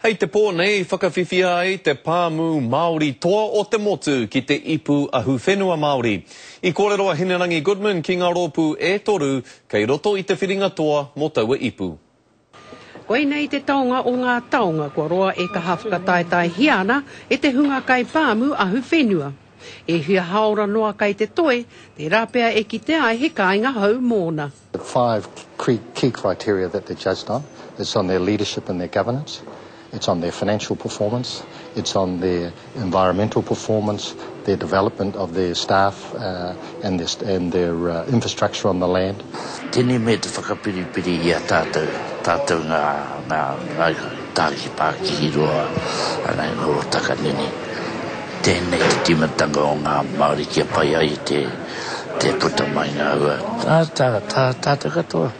Hei te pō nei, whakawhiwhia ai te pāmu Māori toa o te motu ki te ipu ahuwhenua Māori. I kōrero a Hinerangi Goodman ki ngā rōpū e toru kei roto i te whiringa toa mō taua ipu. Koinei te taonga o ngā taonga kua roa e kaha whakataetaehia ana e te hunga kaipāmu ahuwhenua. E hia hāora noa kai te toe, tērā pea e kitea ai he kāinga hou mōna. The five key criteria that they're judged on, it's on their leadership and their governance, it's on their financial performance, it's on their environmental performance, their development of their staff and their infrastructure on the land. Tēnei mea te whakapiripiri i a tātou, tātou ngā Tāki Pākihi roa ana i ngā hōtaka nene. Tēnei te tīmatanga o ngā Māori kia pai ai te. Te puta mai ngā ua. Tā, tā, tā, tātou katoa.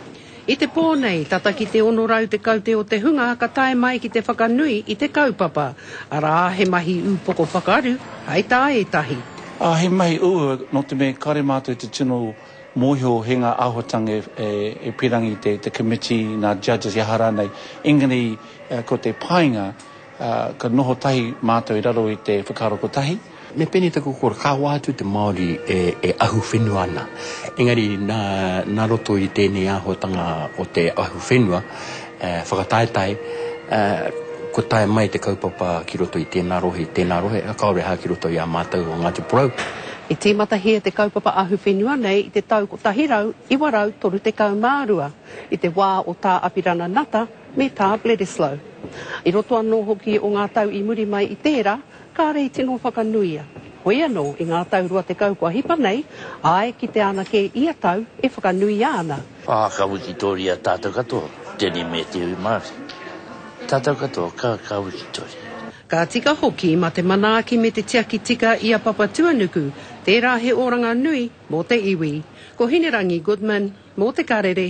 I te pō nei, tata ki te 610 te o te hunga ka tae mai ki te whakanui i te kaupapa, arā, he mahi ūpoko whakaru, hai tā ētahi. Ā, he mahi ū, nō te mea kāre mātou te tino mōhio he ngā āhuatanga e, e, e pīrangi te, te committee, nā judges, he aha rānei, engari ko te painga, Ā, ka noho tahi mātou i raro i te whakaaro kotahi. Me pēnei taku kōrero, ka whā atu te Māori e, e ahu whenua ana. Engari, nā, nā roto i tēnei āhuatanga o te ahu whenua, ā, whakataetae, ā, kua tae mai te kaupapa ki roto i tēnā rohe, i tēnā rohe, ā, kāore hā ki roto i a mātou o Ngāti Porou. I tīmatahia te kaupapa ahu whenua nei i te tau 1932, i te wā o Tā Apirana Nata, me tā Bledisloe. I roto anō hoki o ngā tau i muri mai i tērā, kāre i tino whakanuia. Hoi anō, i ngā tau rua tekau kua hipa nei, āe, kitea ana kē ia tau e whakanuia ana. Ā, ka wikitoria tātou katoa, tēnei me te iwi Māori. Tātou katoa ka, ka wikitoria. Ka tika hoki mā te manaaki me te tiaki tika i a Papatuanuku, tērā he oranga nui mō te iwi. Ko Hinerangi Goodman, mō Te Karere.